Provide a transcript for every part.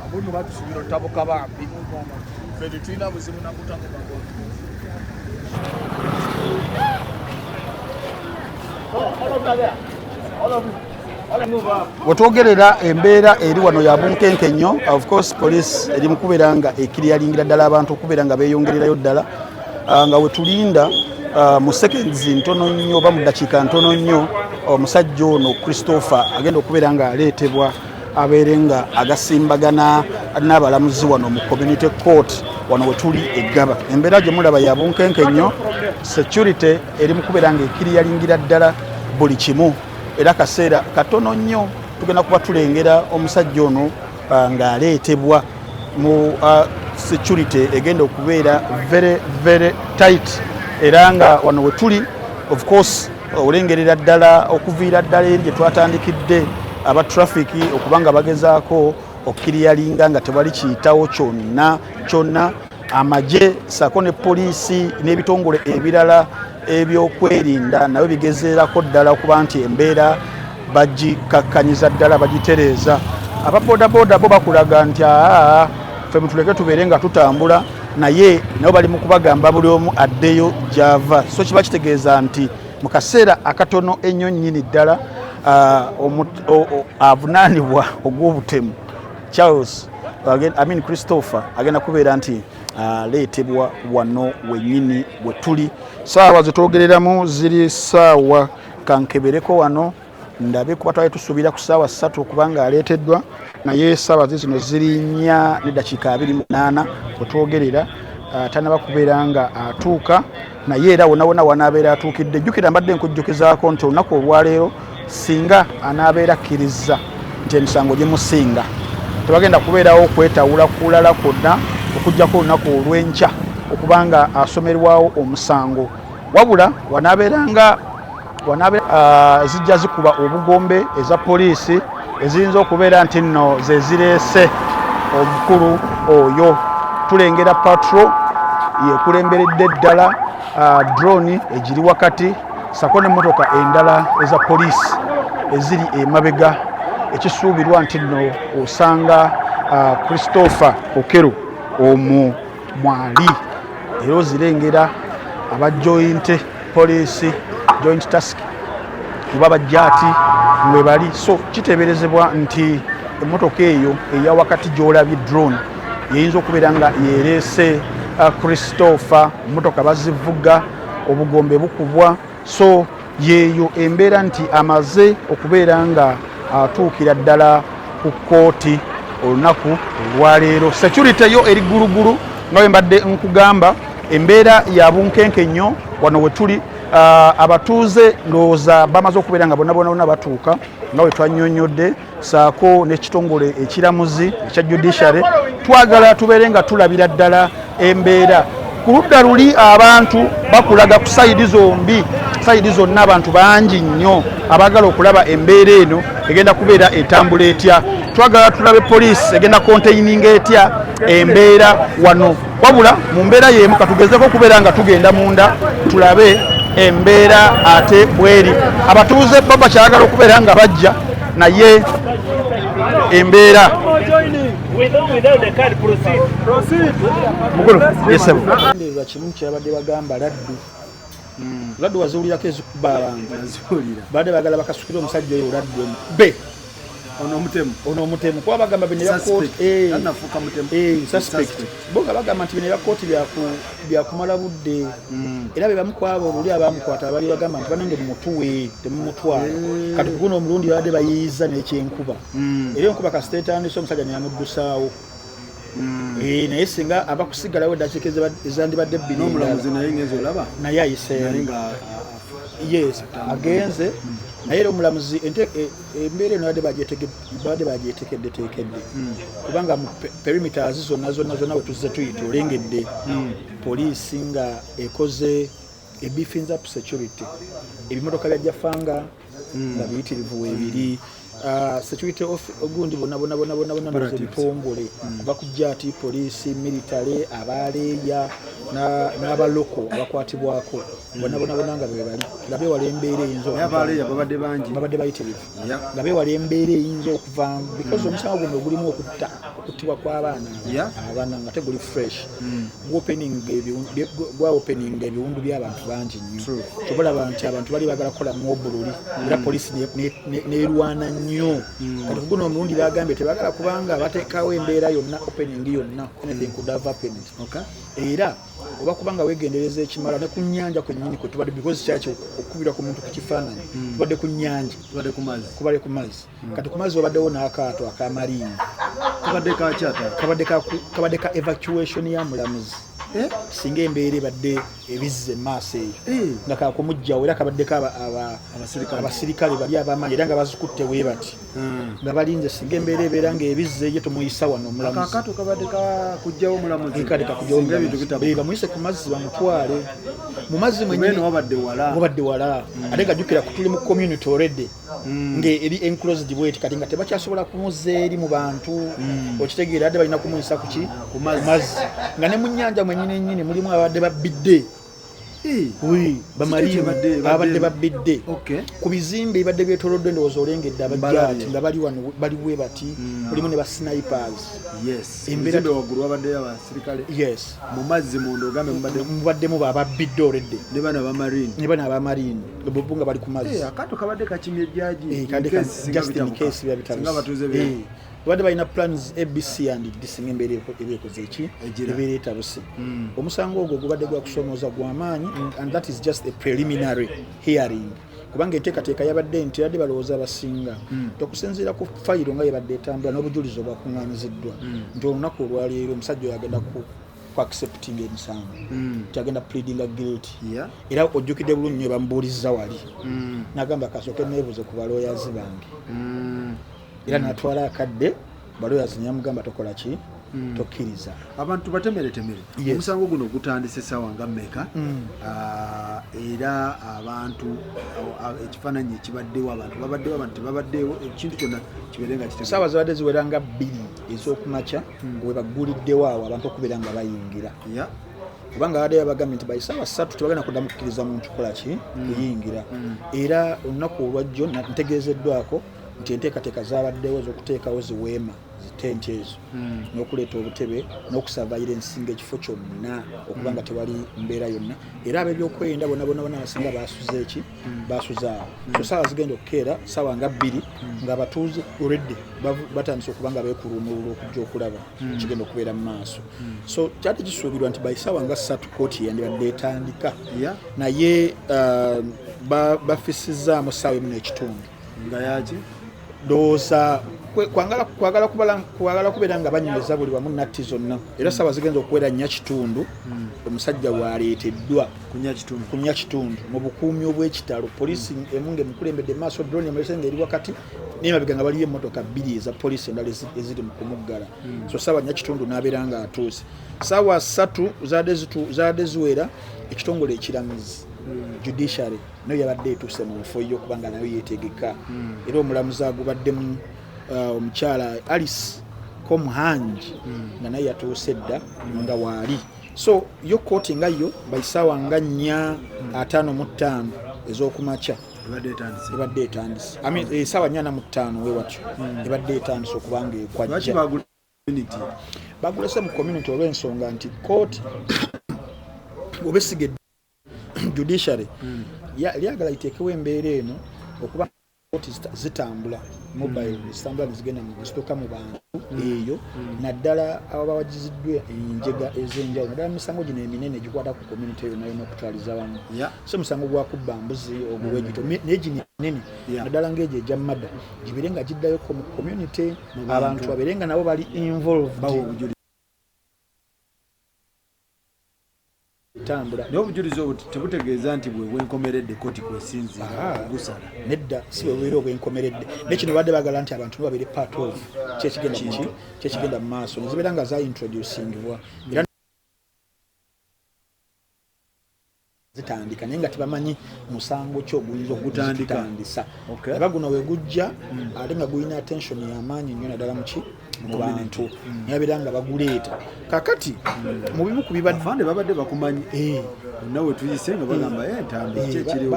Abuno batusubira otabuka bambi. Ffe tetulina buzibu na kutabuka. wetwogerera embeera eri wano ya bunkenke nnyo of course police eri mukubeera nga ekiriyalingira ddala abantu okubeera nga beyongererayo ddala ah, nga wetulinda ah, mu seconds ntono nnyo oba mu dakiika ntono nnyo omusajja ono christopher agenda okubeera nga aleetebwa abeere nga agasimbagana n'abalamuzi wano mu community court wano wetuli eggaba embeera gye mulaba ya bunkenke nnyo security eri mukubeera nga ekiriyalingira ddala buli kimu era kaseera katono nnyo tugenda kuba tulengera omusajja ono uh, ng'aleetebwa mu uh, security egenda okubeera very very tight era nga wano wetuli of course olengerera ddala okuviira ddala eri gye twatandikidde aba trafiki okuba nga bagezaako okukiriyalinga nga tewali kiyitawo kyonna kyonna amagye saako ne poliisi n'ebitongole ebirala ebyokwerinda nabyo bigezeerako ddala okuba nti embeera bagikakkanyiza ddala bagitereeza aba bodaboda bo bakulaga nti aa fe mutuleke tubeere nga tutambula naye nabo bali mu kubagamba buli omu addeyo gyava so kiba kitegeeza nti mu kaseera akatono ennyo nnyini ddala avunaanibwa ogw'obutemu charles amin christopher agenda kubeera nti aleetebwa wano wenyini we tuli saawa zetwogereramu ziri saawa kankebereko wano ndabe kuba twali tusuubira ku ssaawa ssatu okubanga aleeteddwa naye essaawa ze zino ziri nnya neddakiika abiri munaana wetwogerera ah, tanaba kubeera nga atuuka naye era wonawona wanaabeera atuukidde jjukira mbadde nkujjukizaako nti olunaku olwaleero singa anaabeera akkirizza nti emisango gimusinga tebagenda kubeerawo okwetawula kulala kwonna okugjako olunaku olw'enkya okubanga asomerwawo omusango wabula wanabeeranga wanabe uh, zijja zikuba obugombe eza poliisi eziyinza okubeera nti nno zezireese omukulu oyo tulengera patro yekulemberedde ddala uh, drone egiri wakati sako nemotoka endala eza poliisi eziri emabega ekisuubirwa nti nno osanga uh, christopher okero omu mwali era ozirengera aba joint police joint task kuba bajjaati mwebali so kiteeberezebwa nti emmotoka eyo eya wakati gy'olabye drone yeyinza okubeera nga yereese uh, christopher mmotoka bazivuga obugombe bukubwa so yeeyo embeera nti amaze okubeera nga atuukira ddala ku kkooti olunaku olwaleero security yo eri ggulugulu nga bwe mbadde nkugamba embeera ya bunkenke nnyo wano we tuli abatuuze ndowooza bamaze okubeera nga bonna bona bona batuuka nga bwe twannyonnyodde saako n'ekitongole ekiramuzi ekya judiciary twagala tubeere nga tulabira ddala embeera ku ludda luli abantu bakulaga ku sayidi zombi sayidi zonna abantu bangi nnyo abaagala okulaba embeera eno egenda kubeera etambula etya twagala tulabe poliisi egenda konteyininga etya embeera wano wabula mu mbeera y'emu katugezeeko okubeera nga tugenda munda tulabe embeera ate bweri abatuuze bo bakyagala okubeera nga bajja naye embeera mukulu yesebo kimu kyabadde bagamba laddu hmm. laddu waziwulirako ezikubalanga baade bagala bakasukire omusajja oyo laddu be ono omutemu ono omutemu kuba bagamba bino ebyakotianafuuka eh, mutemu eh, suspect boga bagamba nti bino ebyakooti byakumala budde hmm. era be bamu kwabo luli abamukwata abali bagamba nti banange mumutuwe temumutwala eh. kati kuguno omulundi babadde bayiyiza nekyenkuba hmm. era enkuba kasita etandise omusajja neyamuddusaawo Mm. Eh, naye singa aba kusigalawo eddakiika ezandibadde bbiri n'omulamuzi naye ngenzi olaba naye ayiseemu yes agenze naye era omulamuzi e, embeera eno babadde bagyetekedde tekedde hmm. kubanga mu perimeters zonna zonna zonna wetuzze tuyita olengedde hmm. poliisi nga ekoze ebifinza security ebimotoka bya jafanga mm. nga biyitirivu webiri ah, security of gundi bonabonabonabonabonabitongole mm. bakujja ati poliisi military abaleeya n'abaloko abakwatibwako bonabonabona nga bebali nga bewala embeera eyinzababadde bayitirivu nga bewala embeera eyinza okuvamu because mm. omusango guno ogulimu okutta kutibwa kw'abaana abana nga teguli fresh hmm. gwa openinga ebiwundu by'abantu bangi nnyo kyobalaba nti abantu bali bagala kukola mu obululi hmm. era polisi nerwana nnyo hmm. kati kuguno omulundi bagambye tebagala kubanga batekawo embeera yonna opening yonna anything could have happened era oba kubanga wegendereza ekimala ne ku nyanja kwenyini kwetubadde because kyaki okukubira ku muntu ku kifaananyi tubadde ku nyanja kubadde ku mazzi kati ku mazzi wabaddewo n'akaato akamaliini kabadde kakyata kabadde ka evacuation ya mulamuzi eh? singa embeera ebadde ebizza emaaso eyo eh. nga kakumugjawo era kabaddeko abasirikale bali abamaanyi era nga bazikutte we bati hmm. nga balinze singa embeera ebeera nga ebizza eyo tumuyisa wano omulamuzibamuise ku mazzi bamutwale mu mazzi mwenyini wabadde wala ate nga jukira kutuli mu community already Mm. nga eri enclosed bweti kati nga tebakyasobola kumuza eri mu bantu mm. okitegeera adde balina kumuyisa kuki ku mazzi nga ne mu nyanja mwenyini enyini mulimu abadde babbidde babadde babbidde ku bizimbe ebibadde byetolodde endowooza olengedde abajati nga bali wano bali we bati mm. mulimu ne basnipers mubaddemu bababbidde oredde ne bana abamarine bobu nga bali ku mazzi eh, akato kabadde kakimye jjaji eh, just in case biba bitabuse eh, babadde balina plans abc and disinga embeera eba ekoze eki ebeera etabuse hmm. omusango ogwo gubadde gwakusomooza gwamaanyi and that is just a preliminary hearing kubanga enteekateeka yabadde nti yadde balowooza abasinga hmm. okusinziira ku fayiro nga yebadde etambula n'obujulizi obwakuŋŋanyiziddwa hmm. nti olunaku olwaleero omusajja oyo agenda ku ku accepting emisango mm. kyagenda pleadinga guilt yeah. era ojjukidde bulungi nyo bamubuulizza wali mm. nagamba kasooke neebuze ku balooyazi bange mm. era mm. natwala akadde balooyazi nyamugamba tokola ki mm. tokkiriza abantu batemeretemere yes. omusango guno gutandise sawa nga meka mm. uh, era abantu uh, ekifananyi ekibaddewo abantu babaddewo abantu tebabaddewo ekintu kyonna kibeere nga kitesawa zibadde ziweranga bbiri ez'okumakya hmm. webagguliddewo awo abantu okubeera nga bayingira kubanga abadde yabagambye nti baisaawa ssatu tebagenda kuddamu kukkiriza muntu kukola ki hmm. kuyingira hmm. era olunaku olwajjo ntegeezeddwako nti enteekateeka zabaddewo ez'okuteekawo ziweema zitenti ezo hmm. n'okuleeta obutebe n'okusavaira ensinga ekifo kyonna okuba nga tewali mbeera yonna era ab'ebyokwerinda bona bona bona abasinga basuze eki basuzaawo so saawa zigenda okukeera saawa nga bbiri ngaabatuuze oredde batandise okuba nga bekulumulula okujja okulaba hmm. kigenda okubeera mu maaso hmm. so kyali kisuubirwa nti baisaawa nga ssatu kooti yandibadde etandika naye uh, bafisizaamu saawa emu nekitundu nga yaki doosa kwagala kubeera nga banyumeza buli wamu natti zonna era saba zigenza okuwera nya kitundu hmm. omusajja waleeteddwa kunya kitundu mu bukuumi obw'ekitalo polisi hmm. emu nga emukulembedde maaso drone emulese nga eri wakati naye mabega nga baliyo emotoka bbiri eza polisi endala eziri mu kumuggala hmm. so saba nya kitundu n'abeera nga atuuse saawa satu zaadde ziwera ekitongole ekiramizi judiciary nayo yabadde etuuse mu nfo yo kubanga nayo yetegeka hmm. era omulamuzi agubaddemu uh, omukyala alice comuhangi hmm. nga naye yatuuse dda hmm. nga waali so yo kooti nga yo baisaawa nga nnya ataano mu ttaano ez'okumakya ebadde etandise esaawa eh, nyana mu ttaano wewatyo ebadde etandise okubanga ekwajja bagulese mu community olw'ensonga nti kooti obesiga judiciary hmm. lyagala liteekewo embeera eno okuba koti zitambula mobile hmm. zitambula nezigenda zituuka mu bantu hmm. eyo naddala ababa wagiziddwa enjega ez'enjawulo naddala misango gino eminene gikwata ku community yona yona okutwaliza wamu so musango gwakubba mbuzi oguwegito naye gino eminene naddala ngaegyo egya mada gibire nga giddayo mu community abantu babere nga nabo bali involved tambula naye obujulizi obwo tebutegeeza nti bwebwenkomeredde koti kwesinzira gusala nedda si bwebubeera obwenkomeredde naye kino badde bagala nti abantu nibabeere part of kyekigenda ki kyekigenda mu maaso nezibeera nga zaintroducingibwa era zitandika naye nga tebamanyi musango ki oguyinza okugutandisa era guno we gujja hmm. ate nga gulina attention yamaanyi nnyo naddala muki mu bantu hmm. nababeera nga baguleeta kakati hmm. mu bimu ku bibadde babadde bakumanyi eh. nawe tuyise nga bagamba eh. entambi eh, kyekiriwo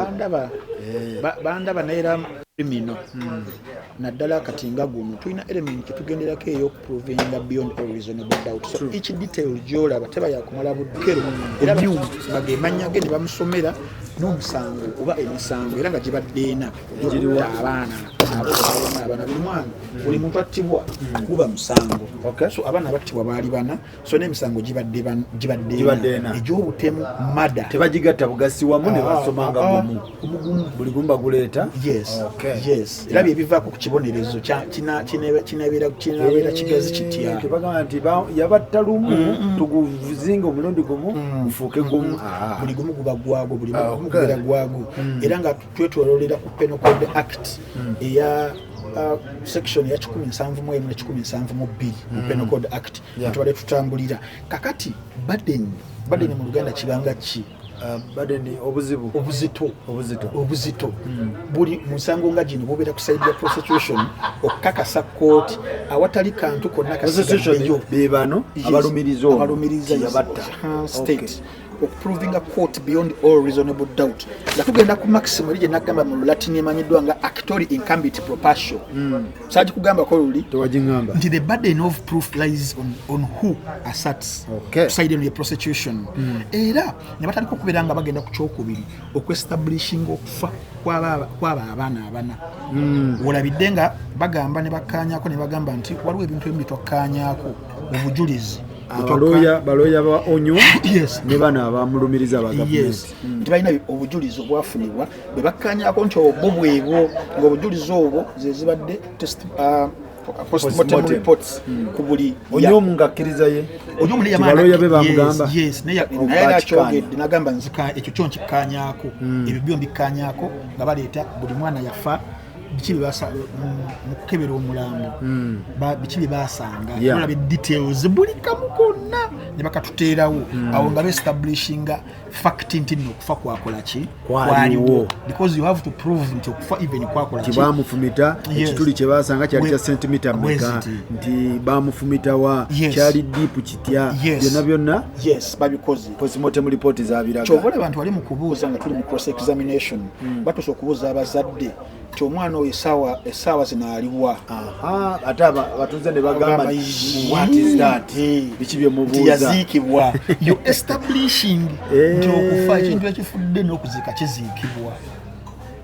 bandaba naye era mino naddala kati nga guno tulina element kyetugenderako eyo provinga beyond all reasonable doubt so True. each detail gyolaba teba yakumala budukero era byuma bagemanya ge ne bamusomera n'omusango oba emisango era nga gibadde ena gyokuta abaana abaana buli mwana buli muntu attibwa guba musango so abaana battibwa baali bana so n'emisango gibadde egy'obutemu mada tebagigatta bugasi wamu ne ah, basomanga ah, gumu ah, buli gumu baguleeta era byebivaako ku kibonerezo kinabeera kigazi eh, kitya tebagamba nti yabatta lumu mm, mm. tuguzinga omulundi gumu mm, gufuuke gumu buli gumu guba gwago buli gumu gubeera gwago era nga twetwololera ku penal code act hmm. eya uh, section eya 1717 mu bbiri mu hmm. penal code act tubadde tutambulira kakati baden baden mu luganda kibanga ki Uh, badeni obuzibu obuzito obuzito obuzito hmm. buli musango nga gino bubeera ku side ya prosecution okukakasa kooti awatali kantu konna kasigaeyo bebano abalumiriza abalumiriza yabatta state okuprovinga court beyond all reasonable doubt nga tugenda ku maxim eri gyenagamba mu lulatini emanyiddwa nga actori incambit propatio mm. saati kugambako luli tewagiamba nti the burden of proof lies on, on who asserts okay. side eno ye prosecution mm. era ne batandika okubeera nga bagenda ku kyokubiri okuestablishinga okufa kwaba abaana abana mm. wolabidde nga bagamba ne bakkaanyako ne bagamba nti waliwo ebintu ebimu byetwakkaanyako obujulizi balooya balooya ba onyo yes. ne bano abamulumiriza yes. mm. tibalina obujulizi obwafunibwa bwe bakkanyako nti obwo bwebwo ngaobujulizi obwo zezibadde test uh, postmortem reports hmm. ku buli onyomu ngakkiriza ye onyomu naye yamaloya be bamugamba yes naye naye akyogedde nagamba nzika ekyo kyo nkikkanyako hmm. ebyo byo mbikkanyako nga baleeta buli mwana yafa biki mukukebera omulambo hmm. biki byebasanga olaba details buli kamu konna ne bakatuteerawo hmm. awo nga beestablishinga fact nti nno okufa kwakola ki kwaliwo because you have to prove nti okufa even kwakola ki bamufumita ekituli kye basanga kyali kya sentimita meka nti bamufumitawa kyali deep kitya byonna byonna yes babikoze postmortem report zabiraga kyova olaba nti wali mu kubuuza nga tuli mu cross examination hmm. batusa okubuuza abazadde ti omwana oyo esaawa esaawa zino aliwa ate abatuze ne bagamba biki byemubuuzayaziikibwa yo establishing eh. nti okufa ekintu ekifudde n'okuziika kiziikibwa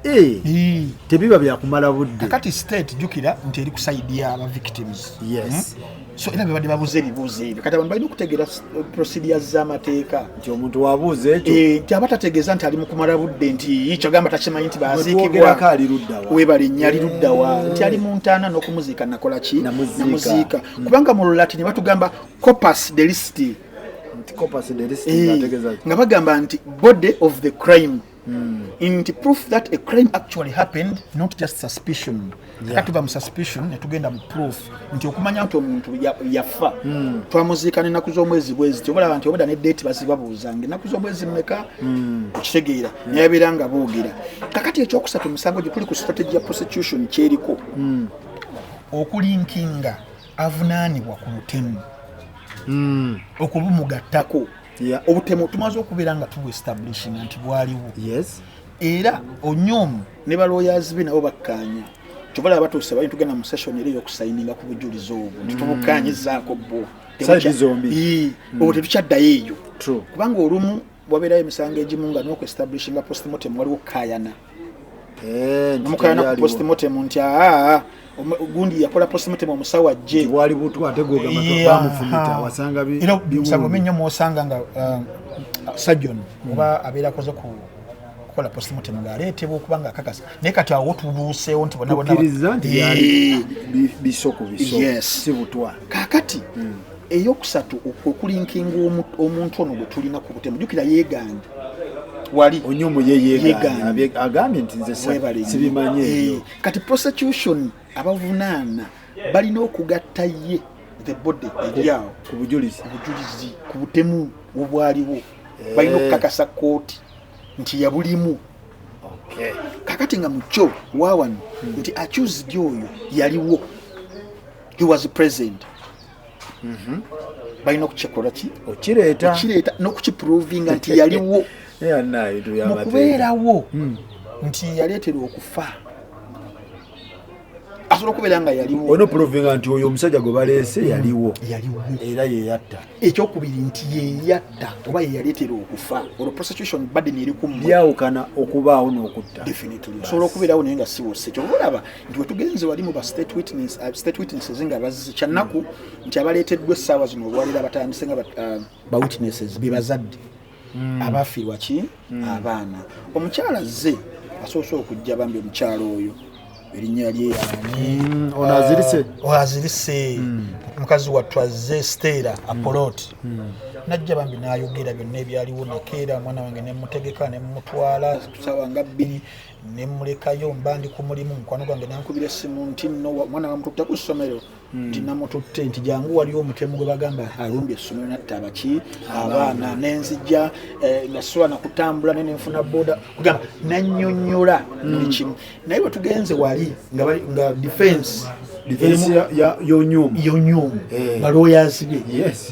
Eh. Eh. tebiba byakumala budde kati state jukira nti eri kusaidia aba victims yes hmm? so era bebadde babuuza ebibuuzo ebyo kati abantu balina okutegeera uh, procedure z'amateeka nti omuntu wabuuza ekyo eh, nti aba tategeeza nti ali mukumala budde nti kyagamba takimanyi nti baziikibwako ali luddawa webale nnyo ali luddawa eh. nti ali mu ntaana n'okumuziika nakola ki namuziika hmm. kubanga mu lulati ne batugamba copas delisiti eh, nga bagamba nti body of the crime Mm. in to proof that a crime actually happened not just suspicion yeah. tuva mu suspicion netugenda mu proof nti okumanya nti omuntu yafa mm. twamuziika nenaku z'omwezi bwezi tyobalaba nti obada ne date bazibabuuza nga enaku z'omwezi mumeka mm. okitegeera mm. nayabeera nga boogera kakati ekyokusatu musango gye tuli ku strategy ya prosecution kyeriko mm. okulinkinga avunaanibwa ku lutemu mm. okubumugattako obutemu tumaze okubeera nga tubuestablishinga nti bwaliwo era onyomu ne balwoyazi be nabo bakkaanya kyobala abatuuse bali tugenda mu session era eyokusayininga ku bujulizi obwo nti mm. tubukkaanyizaako bwo mm. obwo tetukyaddayo eyo kubanga olumu wabeerayo emisango egimu nga nokuestablishinga postmortem waliwo kukayana eh, namukayana ku postmortem nti aa gundi yakola postmortem omusawo ajje wali butwa ate gwogamafumita wasanga era musango minyo mwosanga nga uh, surgeon hmm. oba abeera akoze ku kukola postmortem ng'aleetebwa okuba nga akakasa naye kati awo tubuuseewo nti bonabona nti bisoko bisoko si butwa kakati hmm. eyokusatu okulinkinga omuntu ono gwe tulina ku butemu jukira yeegambye wali onyomo yeyeegambye agambye nti nze sibimanyi ebyo eh, kati prosecution abavunaana balina okugatta ye the body eryawo ku bujulizi obujulizi ku butemu obwaliwo eh. balina okukakasa kooti nti yabulimu kakati nga mukyo wawano hmm. nti accused oyo yaliwo he was present mhm. balina okukikolwa ki okireeta okireeta n'okukiprovinga nti yaliwo mu kubeerawo hmm. nti yaleetera okufa asobola okubeera nga yaliwo olina okuprovinga nti oyo omusajja gwe baleese hmm. yaliwo yaliwo era yeyatta ekyokubiri nti yeyatta oba yeyaleetera okufa olwo prosecution baden eri ku lyawukana okubaawo n'okutta osobola okubeerawo naye nga siwose kyoba olaba nti wetugenze wali mu ba state witness, uh, state witnesses nga bazze kyannaku nti abaleeteddwa essaawa zino olwaleero abatandise nga uh, ba witnesses bebazadde mm. abafiirwa ki mm. abaana omukyala zze asoose okujja bambi omukyala oyo erinnya lye yaani mm, ono azirise uh, oh, azirise mm. mukazi wattu azze steera apolot mm. mm. najja bambi nayogera byonna ebyaliwo nakeera omwana wange nemutegeka nemumutwala sawa nga bbiri ne mmulekayo mba ndi ku mulimu mukwano gwange nankubira essimu nti no omwana bamututte ku ssomero hmm. nti namututte nti jangu waliwo omutemu gwe bagamba alumbye essomero natta abaki abaana nenzija eh, nga sisobola nakutambula naye nenfuna boda kugamba nanyonyola hmm. buli kimu naye wetugenze wali nga defense yonyumu eh. baloyazi be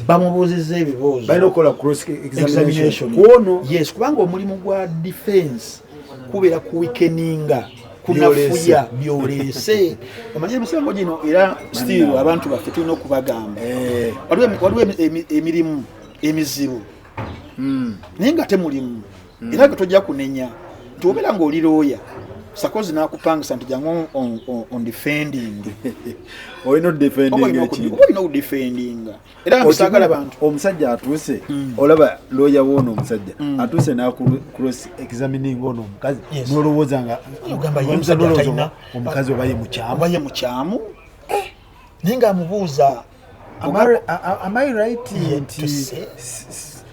bamubuuziza ebibuuzokubanga omulimu gwa defense kubeera ku wikeninga kunafuya byoleese omanyi emisango gino era still abantu baffe tulina okubagamba eh. waliwo emirimu emizibu hmm. naye nga temulimu hmm. era ge tojja kunenya nti obeera ngaoli looya sakozi nakupangisa nti jangu ondefendinga olina odefendinga era musagala bantu omusajja atuuse mm. olaba looya woono omusajja mm. atuuse nacross examining ono omukazi nolowooza nga omukazi obaye mukyamubaye mukyamu eh, naye nga amubuuza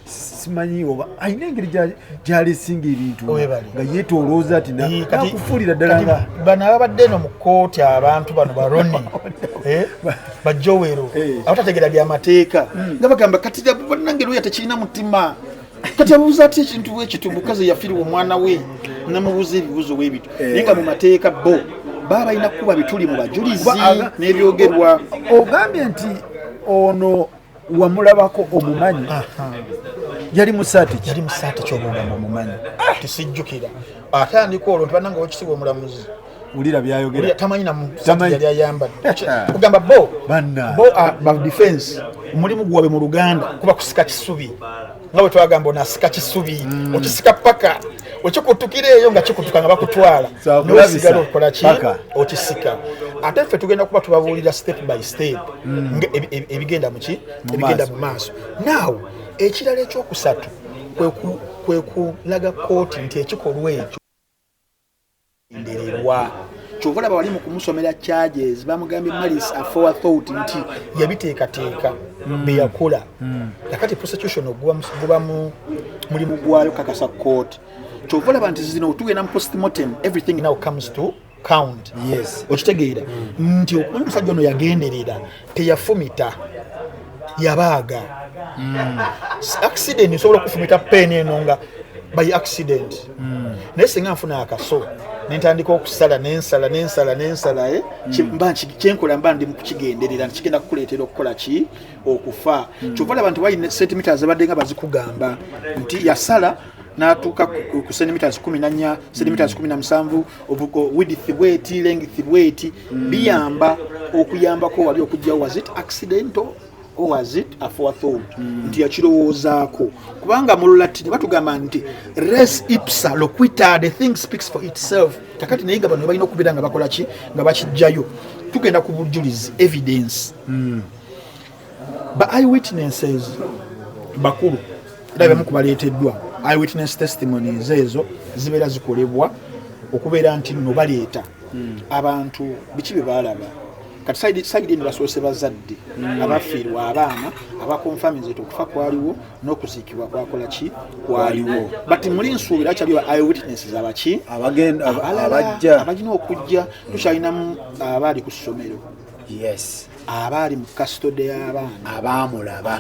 simanyi oba alina engeri gyalesinga ebintu nga yetolooza ti nakufuulira ddala nga bano ababadde eno mu kkooti abantu bano baroni eh, bajowero eh. abatategera byamateeka hmm. nga bagamba kati banange lwoya tekirina mutima kati abuuza atya ekintu bwekiti omukazi yafiriwa omwana we namubuuza ebibuuzo bwebityo eh. naye nga mu mateeka bo baba balina kukuba bituli mu bajulizi n'ebyogerwa ogambye nti ono wamulabako omumanyi yali musaati yali musaati kyobuulamu omumanyi ah! tisijjukira atandika olwo nti bananga wakisiwa omulamuzi ulira byayogera tamanyi namusaati ayambadde kugamba bo bo ah, ba defense omulimu gwabwe mu luganda kuba kusika kisubi nga bwe twagamba onasika kisubi mm. okisika paka okikutukira eyo nga kikutuka nga bakutwala nosigala okukola ki okisika ate ffe tugenda kuba tubabuulira step by step mm. e, e, e, ebigenda muki ebigenda mu maaso naawe ekirala ekyokusatu kwe kulaga kooti nti ekikolwa ekyo ndererwa kyova olaba wali mu kumusomera charges bamugambye malis afowa thought nti yabiteekateeka mm. beyakola mm. nakati prosecution guba mulimu gwayo kakasa court kyova olaba nti zino tugenda mu postmortem everything now comes to count yes okitegeera mm. nti okumanyi omusajja ono yagenderera teyafumita yabaaga mm. accident nsobola okufumita peni eno nga by accident mm. naye singa nfuna akaso nentandika okusala nensala nensala nensala eh? mm. kyenkola mba ndi mukukigenderera nkigenda kukuleetera okukola ki okufa mm. kyova olaba nti waine sentimita zabadde nga bazikugamba nti yasala natuuka ku sentimita kumi nanya sentimita kumi na musanvu widith bweti lengith bweti biyamba okuyambako wali okujja was it accidental or was it aforethought mm. nti yakirowoozaako kubanga mu lulatini batugamba nti res ipsa loquita the thing speaks for itself kakati naye nga bano balina okubeera nga bakola ki nga bakijjayo tugenda ku bujulizi evidence mm. ba eyewitnesses bakulu era byamu kubaleeteddwa eyewitness testimonies ezo zibeera zikolebwa okubeera nti nno baleeta hmm. abantu biki bye baalaba kati sayidi eno basoose bazadde hmm. abafiirwa abaana abakonfaminzet okufa kwaliwo n'okuziikibwa kwakola ki kwaliwo but muli nsuubira kyali ba eyewitness abaki abajja abagina okujja tukyalinamu abaali ku ssomero yes abaali mu kasitode y'abaana abaamulaba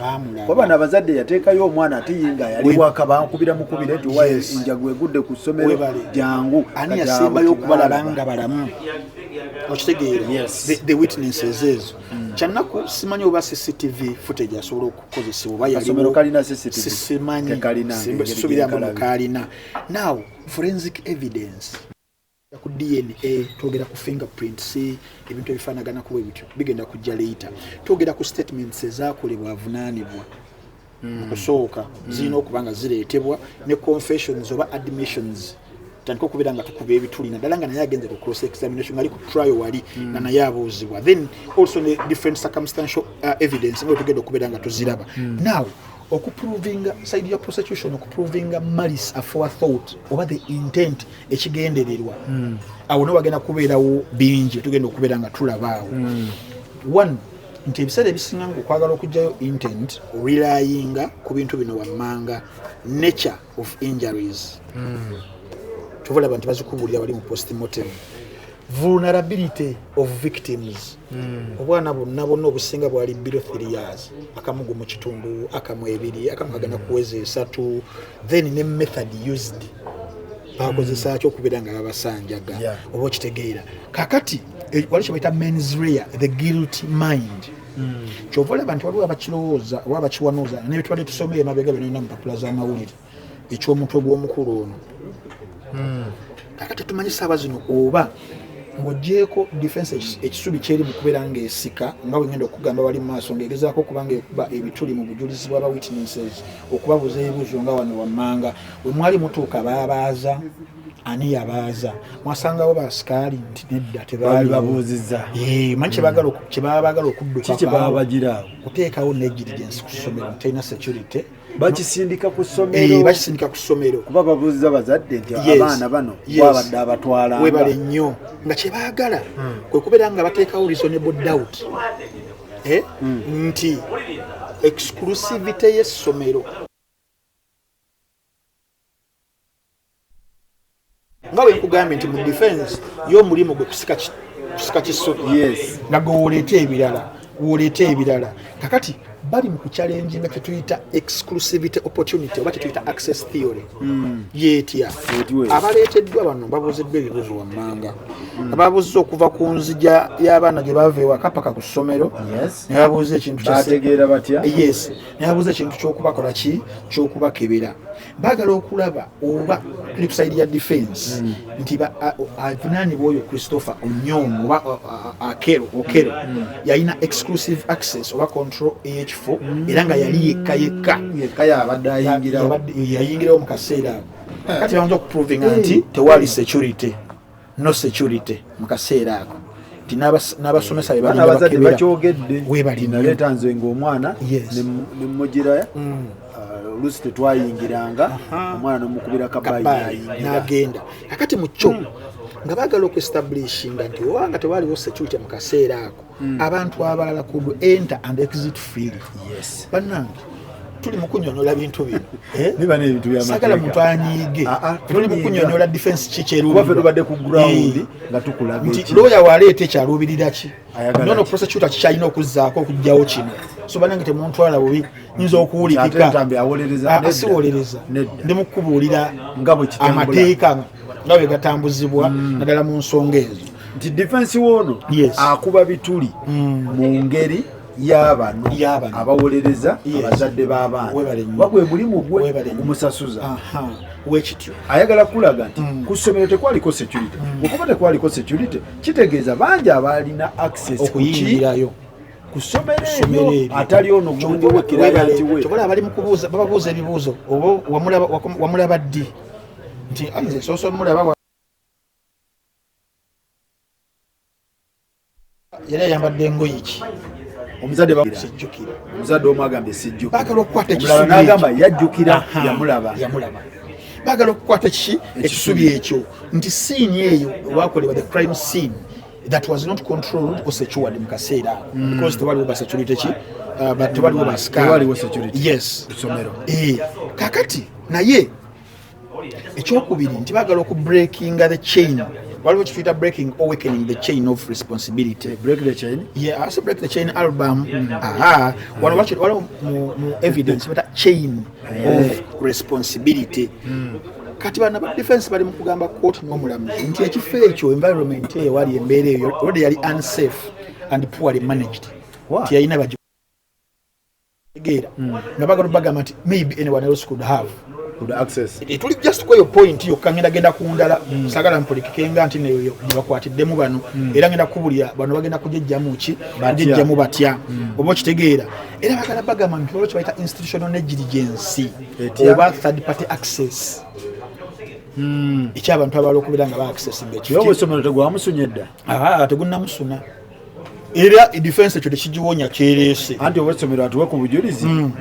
kuba bano abazadde yateekayo omwana ate yinga yali waka bankubira mukubire nti wa enjagu egudde ku ssomero jangu ani yasembayo okubalaba nga balamu okitegeera the witnesses ezo hmm. kyannaku simanyi oba cctv footage asobola okukozesebwa oba yaliwosimanyi sisubiramu kalina now forensic evidence ku DNA twogera ku fingerprints ebintu ebifaanagana kuba ebityo bigenda kujja leeta twogera ku statements ezakolebwa avunaanibwa hmm. okusooka hmm. zirina okuba nga zireetebwa ne confessions oba admissions tutandika okubeera nga tukuba ebituli naddala nga naye agenze ku cross examination ali ku trial wali hmm. nga naye abuuzibwa then also ne different circumstantial uh, evidence nga wetugenda okubeera nga tuziraba now okuprovinga side ya prosecution okuprovinga malice afoa thought oba the intent ekigendererwa mm. awo no bagenda kubeerawo bingi tugenda okubeera nga tulabaawo mm. one nti ebiseera ebisinga nga okwagala okugyayo intent relayinga ku bintu bino wammanga nature of injuries mm. tuvalaba nti bazikubulira bali mu postmortem vulnerability of victims hmm. obwana bonna bonna obusinga bwali bilo three years akamu gumu kitundu akamu ebiri akamu kagenda hmm. kuweza esatu then ne method used bakozesa ki okubeera nga babasanjaga oba okitegeera kakati eh, wali kyebaita mens rea the guilt mind hmm. kyova olaba nti waliwo abakirowooza oba abakiwanooza nebitwali tusoma emabega byonayina mupapula z'amawulire eky'omutwe gw'omukulu ono hmm. kakati tumanyi saaba zino oba ng'ogyeko defense ekisubi kyeri mu kubeera ng'esika nga bwe ngenda okugamba bali mu maaso ng'egezaako okuba ng'ekuba ebituli mu bujulizi bw'aba witnesses okubabuuza ebibuuzo nga wano wammanga we mwali mutuuka baabaaza ani yabaaza mwasangawo basikaali nti nedda tebababuuziza manyi kyebagala kyebaba bagala okuddukakaawo kuteekawo negirigyensi ku ssomero ntalina security bakisindika ku ssomero eh, bakisindika ku ssomero kuba babuuza bazadde nti abaana bano wabadde abatwala webale nnyo nga kye baagala hmm. kwe kubeera nga bateekawo reasonable doubt eh, hmm. nti exclusivity y'essomero nga bwe nkugambye nti mu defense y'omulimu gwe kusika kusika kisoko nga gwe woleeta ebirala woleeta ebirala kakati bali mu kucalenji nga kyetuyita exclusivity opportunity oba kyetuyita access theory hmm. yetya abaleeteddwa bano babuuziddwa ebibuuzo wammanga hmm. ababuuzza okuva ku nzija y'abaana gye bava ewaka paka ku ssomero nebabuuza ekintu yes nebabuuza ekintu kyokubakola ki kyokubakebera bagala okulaba oba tuli kusaidi ya defense mm. nti avunaanibwa oyo christopher onyong oba akero okero mm. yalina exclusive access oba control eyekifo mm. era nga yali yekka yekka yayingirawo mu kaseera ako kati bayinza okuprovinga nti tewali security no security mu kaseera ako nti n'abasomesa bebalinabakeberawebalinaleta nze ngaomwana nemujiraya mm. uh, oluusi tetwayingiranga omwana nomukubira kabayinagenda akati mukyo mm. nga bagala okuestablishinga nti obanga tewaliwo security mu kaseera ako mm. abantu abalala kudu enter and exit free yes. banange tuli mukunyonyola bintu bino eh? sagala muntu anyiige ah, ah, tuli mukunyonyola defense kikyeruubadde ku ground eh. nga tukulaga nti looya waleeta ekyaluubirira ki nono prosecutor kikyalina okuzzaako okugjawo kino so banange temuntwala bubi nyinza okuwulikikasiwolereza ah, ndi mukubuulira amateeka nga bwe gatambuzibwa mm. naddala mu nsonga ezo nti defense woono akuba bituli mm. mu ngeri yabano abawolereza abazadde b'abaana wagwe mulimu gwe ogumusasuza wekityo ayagala kulaga nti mm. ku ssomero tekwaliko security mm. okuba tekwaliko security kitegeeza bangi abaalina access okuyingirayo atali ono kyobola abali mukubuuza bababuuza ebibuuzo oba wamulaba ddi nti nze soso mulaba yali ayambadde engoye ki omuzadde bamusijjukira omuzadde omu agambye sijjukira bagala okukwata ekisubi n'agamba yajjukira yamulaba yamulaba bagala okukwata kiki ekisubi ekyo nti siini eyo olwakolebwa the crime scene that was not controlled or secured mu kaseera ako hmm. because tewaliwo basecurity ki uh, but tewaliwo basikaaliwo security yes essomero eh, kakati naye ekyokubiri nti bagala oku breaking the chain waliwo kituyita breaking awakening the chain of responsibility eh, break the chain yeah i say break the chain album mm. aha wano wacho waliwo mu evidence bata chain eh. of responsibility mm. kati bana ba defense bali mukugamba court no mulamuzi nti ekifo ekyo environment eyo wali embeere eyo ode yali unsafe and poorly managed nti yalina tegeera hmm. nga bagala bagamba nti maybe anyone else could have eh, tuli just kweyo point yokka ngenda genda ku ndala hmm. sagala mpulikikenga nti neyo nebakwatiddemu bano hmm. era ngenda kubulira bano bagenda kujejjamu ki jejjamu batya oba okitegeera era bagala bagamba nti olwo kyebayita institutional negligence oba third party access ekyabantu abala okubeera nga ba access nga ekyo tegwamusuna edda tegunamusuna era edifensi ekyo tekigiwonya kyereese anti obwesomero atuwe ku bujulizi mm.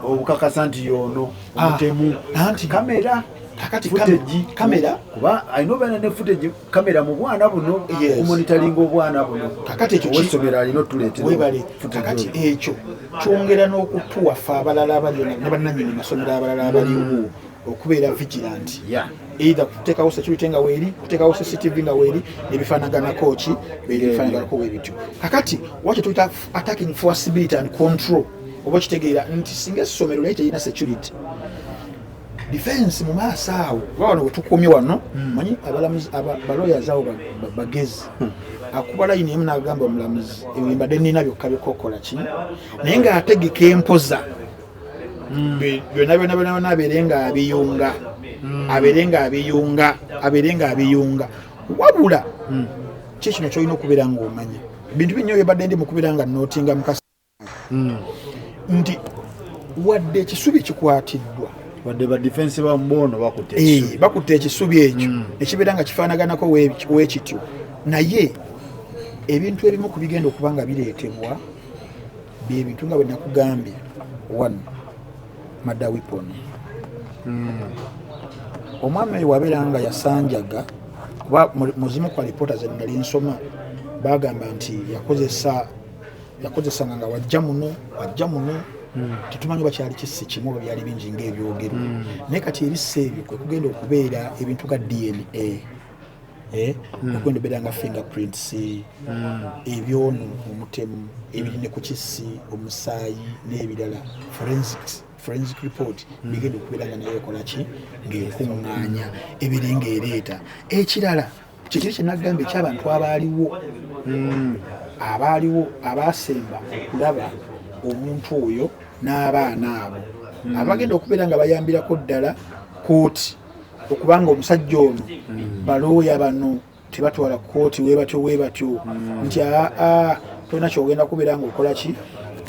obukakasa nti yono ah. omutemu anti kamera kakati futeji kamera kuba alina obeera ne futeji kamera mu bwana buno okumonitalinga obwana buno kakati ekyo owesomero alina otuleeterawebale kakati ekyo kyongera n'okutuwaffe abalala abaliyo ne bannanyini masomero abalala abaliwo mm. okubeera vigilant yeah. either kuteekawo security nga weeri kuteekawo cctv nga weeri nebifaanaganako ki bebifaanaganako webityo kakati wa kyetuyita attacking forcibility and control oba okitegeera nti singa essomero naye terina security defense mu maaso awo kuba wano wetukumye wano hmm. manyi abalawyers awo bagezi hmm. akuba layini emu nagamba omulamuzi ebimbadde nina byokka bikokola ki naye ngaategeka empoza mm. byona byona byona byona abeere nga abiyunga mm. abeere nga abiyunga abeere nga abiyunga wabula mm. ki kino kyolina okubeera nga omanya bintu binyo byebadde ndi mukubeera nga notinga mukasa nti wadde ekisubi kikwatiddwa wadde ba defense ba mbono bakutte eh, ekisubi ekyo ekibeera nga kifaanaganako wekityo naye ebintu ebimu ku bigenda okuba nga bireetebwa bye bintu nga bwe nakugambye one mada weapon hmm. omwami oyo wabeera nga yasanjaga kuba muzimu kwa lipoota ze nali nsoma bagamba nti yakozesa yakozesanga nga wajja muno wajja muno hmm. tetumanyi oba kyali kisi kimu oba byali bingi ngaebyogerwa hmm. naye kati ebisa ebyo kwekugenda okubeera ebintu ga dna Eh, hmm. okwenda obeera nga fingerprints hmm. ebyono omutemu ebiri ne ku kisi omusaayi n'ebirala forensics forensic report hmm. bigenda okubeera nga naye ekola ki ng'ekuŋŋaanya ebiri ng'ereeta ekirala kyekiri kyenagamba ekyabantu abaaliwo abaaliwo abaasemba okulaba omuntu oyo n'abaana abo abagenda okubeera nga bayambirako ddala kooti okubanga omusajja ono hmm. balooya bano tebatwala kooti webatyo webatyo hmm. nti aa tolina kyogenda kubeera nga okola ki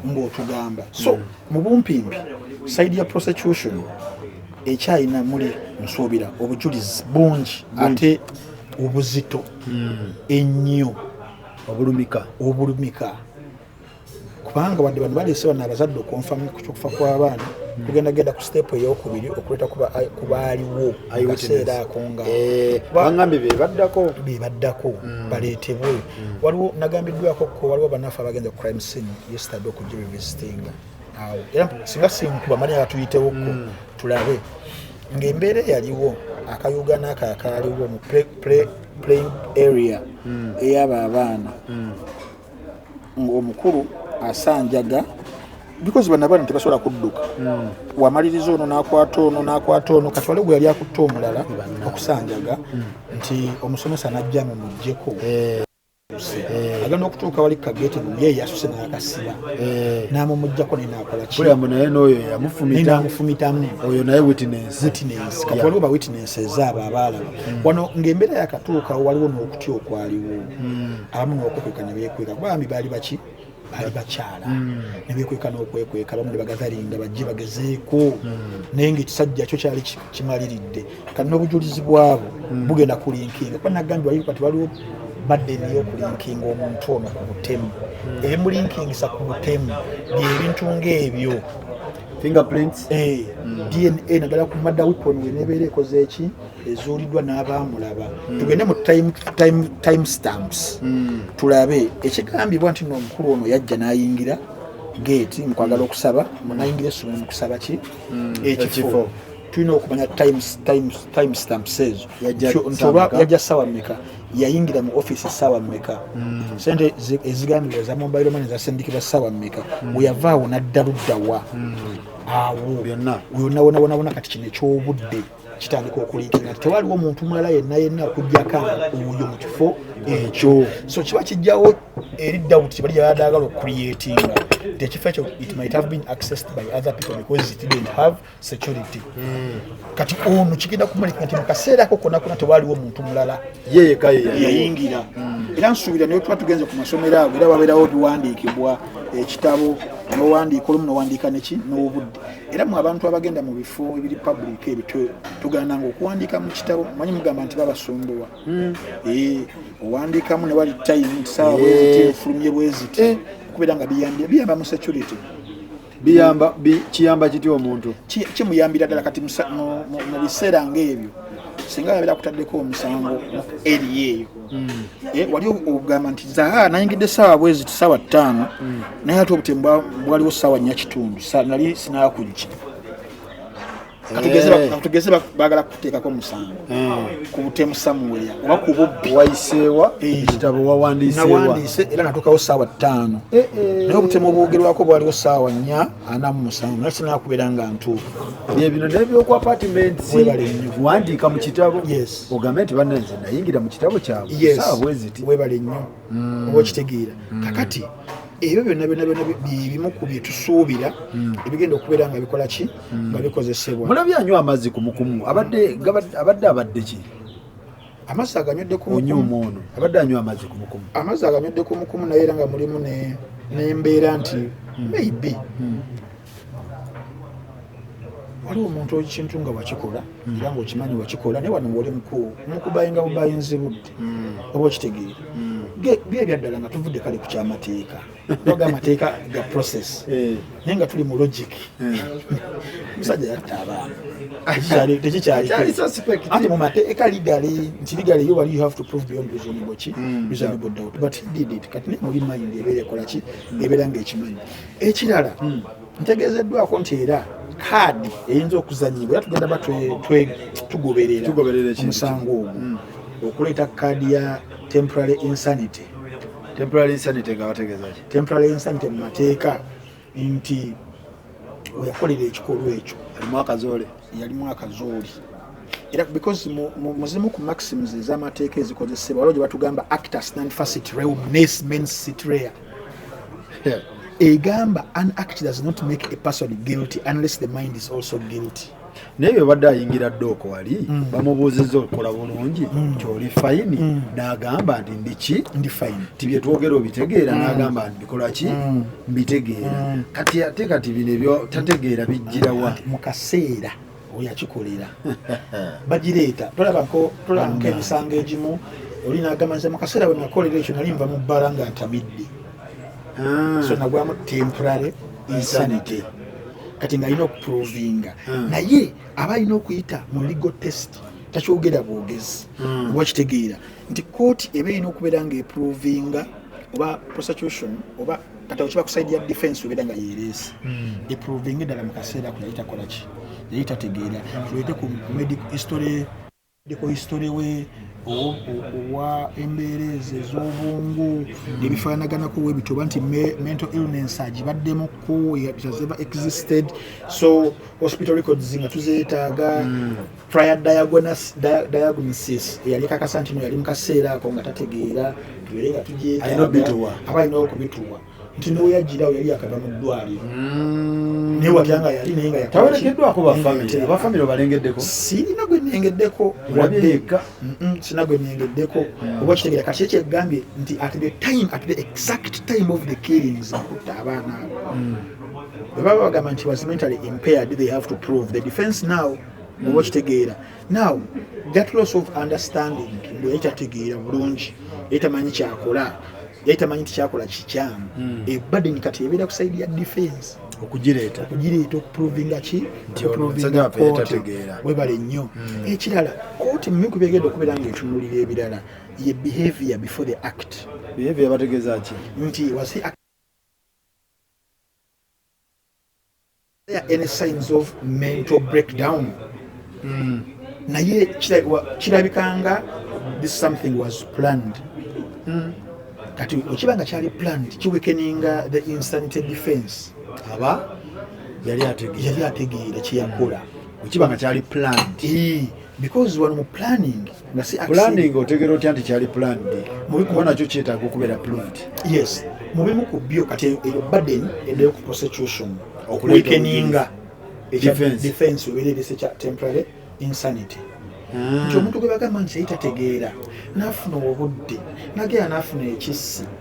ngaotugamba so hmm. mu bumpimpi saidi ya prosecution ekyalina muli nsuubira obujulizi bungi ate obuzito ennyo obulumika obulumika kubanga wadde bano baleese bano abazadde okunfamu kukufa kw'abaana hmm. kugenda genda ku siteepu ey'okubiri okuleeta ku baaliwo kaseera ako ngabangambye eh, bebaddako bebaddako hmm. baleetebwe hmm. waliwo nagambiddwako ko waliwo banafe abagenze ku crime scene yestade okujja bevisitinga awo era singa sinkuba manya batuyitewoko tulabe ng'embeera eyaliwo akayugana ako akaaliwo mu playing area eyaba abaana ng'omukulu asanjaga bikozi bana bana tebasobola kudduka hmm. wamaliriza ono nakwata ono nakwata ono kati waliwo gwe yali akutte omulala okusanjaga hmm. nti omusomesa najja mumugjeko eh. Eh. agenda okutuuka wali kageti ye yasuse nakasiba eh. namumugjako naye nakolakiyambo naye noyo yamufumitamu oyo naye witness kati waliwo ba witness ezaabo abaalaba hmm. wano ng'embeera yakatuuka waliwo n'okutya okwaliwo abamu n'okwekweka ne beekweka kuba bambi baali baki baali bakyala hmm. ne beekweka n'okwekweka abamu ne bagadalinga bajje bagezeeko hmm. naye ngaekisajja kyo kyali kimaliridde kati n'obujulizi bwabo hmm. bugenda kulinkinga kuba nagambye wali kati waliwo badde niyo okulinkinga omuntu ono ku butemu ebimulinkingisa ku butemu byebintu ngaebyo fingerprints eh, dna nagala kumada weapon wenebeera ekoze eki ezuuliddwa n'abaamulaba hmm. tugende mu time stamps hmm. tulabe ekigambibwa nti noomukulu ono yajja n'ayingira geeti mukwagala hmm. okusaba munayingira essomero mukusaba ki ekifo tulina okumanya time stamps ezo nti oba yajja ssaawa meka yayingira mu offiisi ssaawa meka sente ezigambibwa eza mobile mane zasindikibwa ssaawa meka weyavaawo nadda luddawa awo yonna wonawonawona kati kino ekyobudde kitandika okuliika nga tewaliwo muntu mulala yenna yenna okujjako oyo mu kifo ekyo so kiba kijjawo eri dawuti kibali yayadaagala okucreatinga nti ekifo ekyo it might have been accessed by other people because it didn't have security hmm. kati ono kigenda kumulika nti mukaseera ako kona kona tewaliwo muntu mulala yeyekayeyayingira hmm. era nsuubira naye tuba tugenze ku masomero ago era wabeerawo biwandiikibwa ekitabo nowandiika olumu nowandiika neki n'obudde era mu abantu abagenda mu bifo ebiri public ebyo tugaananga okuwandiika mu kitabo manyi mugamba nti babasumbuwa hmm. eh, owandiikamu ne wali time nti saawa bweziti eh. efulumye bweziti eh. okubeera nga biyambye biyamba mu security biyamba kiyamba kiti omuntu kimuyambira ddala kati mu biseera ngaebyo singa yabeera kutaddeko omusango mu eri eyo mm. eh, wali ogamba nti zaha nayingidde saawa bwezi tisaawa ttaano mm. naye ate obutemu bwaliwo saawa nnya kitundu nali sinakujja katugeze eh. bagala kuteekako omusango eh. ku butemu samuwera oba ku bubbi wayiseewa ekitabo eh. wawandiisewawandiise era natuukawo saawa ttaano naye obutemu obwogerwako bwaliwo saawa nnya anamu musango naye sinakubeera nga ntuufu ebino nebyoku apartment wandiika mu kitabo yes ogambe nti banna nze nayingira mu kitabo kyabwe saawa bweziti webale nnyo mm. oba okitegeera mm. kakati ebyo byonna byonna byonna byebimu ku bye tusuubira mm. ebigenda okubeera nga bikola ki nga bikozesebwa mulabye anywa amazzi kumukumu abadde abadde abadde ki amazzi aganywedde kumukumu ono abadde anywa amazzi kumukumu amazzi aganywedde kumukumu naye era nga mulimu n'embeera nti maybe waliwo omuntu ekintu nga wakikola hmm. era ngaokimanyi wakikola naye wano ngaoli mukubayinga bubayinzi budde hmm. oba okitegeera hmm. bye ebyaddala nga tuvudde kale ku kyamateeka oga amateeka ga process eh. naye nga tuli mu logic eh. musajja yatta abaana tekikyalianti mu mateeka ligale nti ligale yo wali you have to prove beyond reasonable ki reasonable doubt but did it kati naye muli mind ebeera ekolaki ebeera ngaekimanyi ekirala hmm. ntegeezeddwako nti era kaadi eyinza okuzanyibwa era tugenda ba tugoberera omusango ogwo hmm. okuleeta kaadi ya temporary insanity temporary insanity nga bategeeza ki temporary insanity mu mateeka nti weyakolera ekikolwa ekyo alimu akazoole yalimu akazoole era because muzimu ku maxims ez'amateeka ezikozesebwa waliwo gye batugamba actus non facit reum nes mens sitrea egamba an act does not make a person guilty unless the mind is also guilty naye bwebadde ayingira ddooko wali mm. bamubuuzizza okukola bulungi mm. kyoli fayini mm. n'agamba nti ndiki ndi fayini ti byetwogera obitegeera n'agamba nti bikola ki mbitegeera kati ate kati bino ebyo tategeera bijjirawa mu kaseera weyakikolera bagireeta tolabako tolabako emisango egimu oli nagamba nze mukaseera wenakolera ekyo nali nva mu bbala nga ntamidde ah. so nagwamu temporary insanity kati nga alina okuprovinga ah. naye aba alina okuyita mu legal test takyogera bwogezi hmm. oba kitegeera nti kooti eba erina okubeera nga eprovinga oba prosecution oba kati awo kiba kusaidia defense obeera nga yeereese hmm. eprovinga eddala mu kaseera ako yali takola ki yali tategeera tulete ku medical history medical history we owa embeera ezo ez'obwongo ebifaananaganaku we bityo oba nti mental illness agibaddemu ku has ever existed so hospital records nga tuzeetaaga hmm. prior diagnosis diagnosis eyali kakasa nti yali mu kaseera ako nga tategeera tubeere nga tugyetaaba alina okubituwa nti neweyajjira yali yakava mu ddwaliro mm. naye watya nga yali naye nga yatawerekeddwako bafamire obalengeddeko sirina gwe nengeddeko waddeeka sirina gwe nengeddeko mm. oba kitegera kati ekyo egambye nti at the time at the exact time of the killings akutta abaana abo mm. bwe baba bagamba nti was mentally impaired they have to prove the defense now oba okitegeera now that loss of understanding mbu yali tategeera bulungi yali tamanyi kyakola yali tamanyi nti kyakola kikyamu hmm. ebaden eh, kati ebeera ku saidi ya defense okugireeta okugireeta okuprovinga ki okuprovinga kooti webale nnyo hmm. ekirala kooti mu bintu byegenda okubeera nga etunulira ebirala ye behavior before the act behavior bategeeza ki nti wasi any signs of mental breakdown mm. naye kirabikanga this something was planned mm. kati okiba nga kyali planned kiwekeninga the insanity defense aba yali ategeera kyeyakola okiba nga kyali planned because wano mu planning nga si planning otegera otya nti kyali planned kuba nakyo kyetaaga okubeera proved yes mu bimu ku byo kati eyo burden edayo ku prosecution okuwekeninga defense obereerese kya temporary insanity ah. nti omuntu gwe bagamba nti yali tategeera n'afuna obudde nageera n'afuna ekissi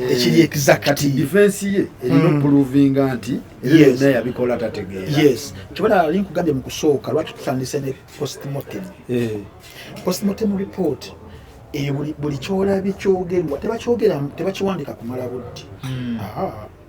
Eh, ekiri exacti defense ye erina mm. okuprovinga nti ebyo yabikola tategeera yes kibona ali nkugambye mu kusooka lwaki tutandise ne postmortem eh. postmortem report eyo buli kyolabye kyogerwa tebakiwandika kumala budde hmm.